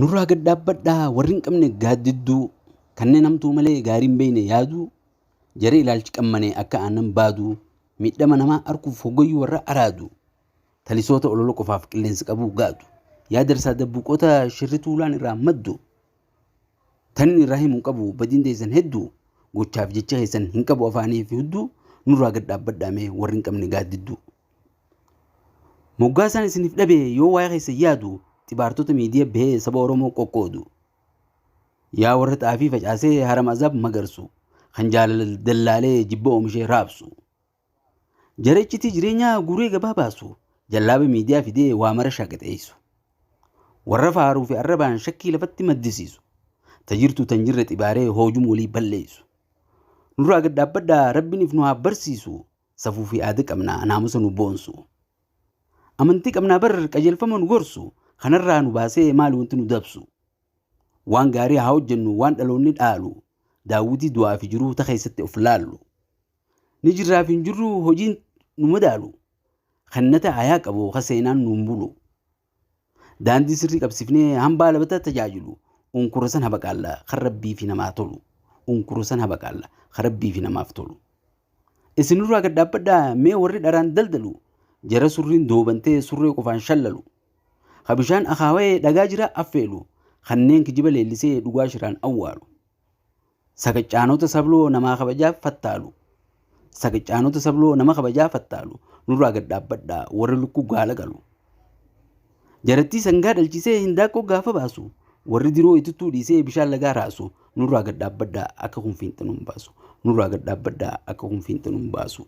Nurraa gad dhaabbadhaa warri hin qabne gaaddidduu kanneen hamtuu malee gaarii hin beekne yaaduu jaree ilaalchi qammane akka aannan baaduu miidhama namaa arkuuf hoggayyuu warra araadu talisoota ololo qofaaf qilleensi qabuu gaadu yaa darsaa dabbuuqota shirri tuulaan irraa maddu Tanin irraa himu hin qabu badiin teessan heddu gochaaf jecha keessan hin qabu afaanii fi hudduu nurraa gad dhaabbadhaa mee warri hin qabne gaaddidduu. Moggaasaan isiniif dhabe yoo waa'ee keessan yaadu xibaartota miidiya bahee saba Oromoo qoqqoodu. Yaa warra xaafii facaasee haram azaab magarsu kan jaalala dallaalee jibba oomishee raabsu. Jara iccitii jireenyaa guuree gabaa baasu, jallaaba miidiyaa fidee waa mara shaagaxeessu. Warra faaruu fi arrabaan shakkii lafatti maddisiisu. Ta jirtu tan jirre xibaaree hoojum walii balleessu. Nurraa gad dhaabbadhaa Rabbiin if nu haa barsiisu. Safuu fi aada qabna naamusa nu boonsu. Amantii qabnaa bar qajeelfama nu gorsu. Kanarraa nu baasee maali wanti nu dabsu. Waan gaarii haa hojjennu waan dhaloonni dhaalu. Daawwitii du'aa fi jiruu ta keessatti of laallu. ni jirraaf hin jirru hojiin nu madaalu kan nata ayaa qabu kan seenaan nuun bulu daandii sirrii qabsifnee hambaa labataa tajaajilu unkura san habaqaalla kan rabbii fi namaa tolu unkura san habaqaalla kan rabbii fi namaaf tolu isinirraa gad dhaabbadhaa mee warri dharaan daldalu jara surriin doobantee surree qofaan shallalu ka bishaan akaawee dhagaa jira affeelu kanneen kijiba leellisee dhugaa shiraan awwaalu Sagachaanota sabloo namaa kabajaa fattaalu Sagachaanota sabloo nama kabajaa fattaalu nurraa gad dhaabbadhaa warri lukkuu gaala qalu Jarattii sangaa dhalchisee hindaaqqoo gaafa baasu warri diroo ituttuu dhiisee bishaan lagaa raasu nurraa gad dhaabbadhaa akka kun fiinxa nun baasu nurraa gad dhaabbadhaa akka kun fiinxa nun baasu.